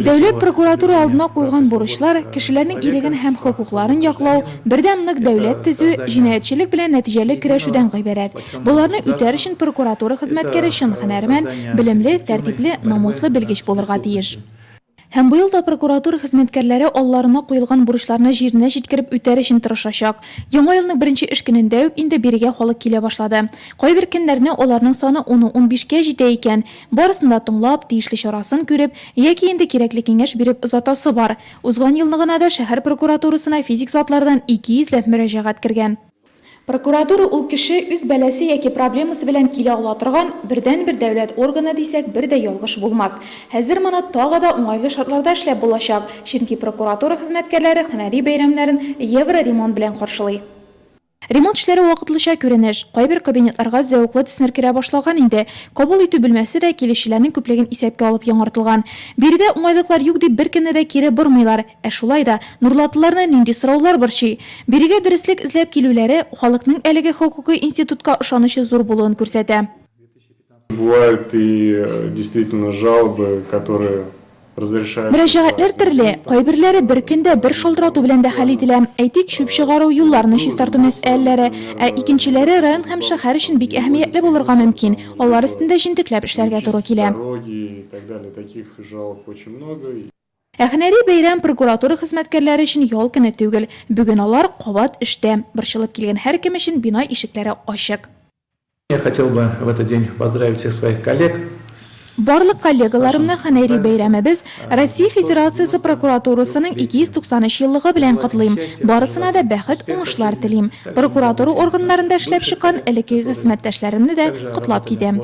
Дәүләт прокуратура алдына куйган бурычлар, кешеләрнең иреген һәм хокукларын яклау, бердәм нык дәүләт төзү, җинаятьчелек белән нәтиҗәле көрәшүдән гыйбарәт. Боларны үтәр өчен прокуратура хезмәткәре чын һөнәрмән, белемле, тәртипле, намуслы белгеч булырга тиеш. Һәм быел да прокуратура хезмәткәрләре алларына куелган бурычларны җиренә җиткереп үтәр өчен тырышачак. Яңа елның беренче эш көнендә үк инде бирегә халык килә башлады. Кайбер көннәрне аларның саны уну-унбишкә җитә икән. Барысын да тыңлап, тиешле чарасын күреп, яки инде кирәкле киңәш биреп озатасы бар. Узган елны гына да шәһәр прокуратурасына физик затлардан ике йөзләп мөрәҗәгать кергән. Прокуратура ул кеше үз бәласе яки проблемасы белән килә ала торган бердәнбер дәүләт органы дисәк бер дә ялгыш булмас. Хәзер моны тагы да уңайлы шартларда эшләп булачак, чөнки прокуратура хезмәткәрләре һөнәри бәйрәмнәрен евро ремонт белән каршылый. Ремонт эшләре вакытлыча күренеш, кайбер кабинетларга зәвыклы төсмер керә башлаган инде, кабул итү бүлмәсе дә килүчеләрнең күплеген исәпкә алып яңартылган. Биредә уңайлыклар юк дип беркемне дә кире бормыйлар, Ә шулай да, нурлатлыларны нинди сораулар борчый? Бирегә дөреслек эзләп килүләре, халыкның әлеге хокукый институтка ышанычы зур булуын күрсәтә. Мөрәҗәгатьләр төрле, кайберләре бер көндә бер шалтырату белән дә хәл ителә, әйтик, чүп чыгару, юлларны чистарту мәсьәләләре, ә икенчеләре район һәм шәһәр өчен бик әһәмиятле булырга мөмкин, алар өстендә җентекләп эшләргә туры килә. Ә һөнәри бәйрәм прокуратура хезмәткәрләре өчен ял көне түгел. Бүген алар кабат эштә. Борчылып килгән һәркем өчен бина ишекләре ачык. Я хотел бы в этот день поздравить всех своих коллег с Барлык коллегаларымны һөнәри бәйрәмебез, Россия Федерациясе прокуратурасының 293 еллыгы белән котлыйм. Барысына да бәхет, уңышлар телим. Прокуратура органнарында эшләп чыккан элеккеге хезмәттәшләремне дә котлап китәм.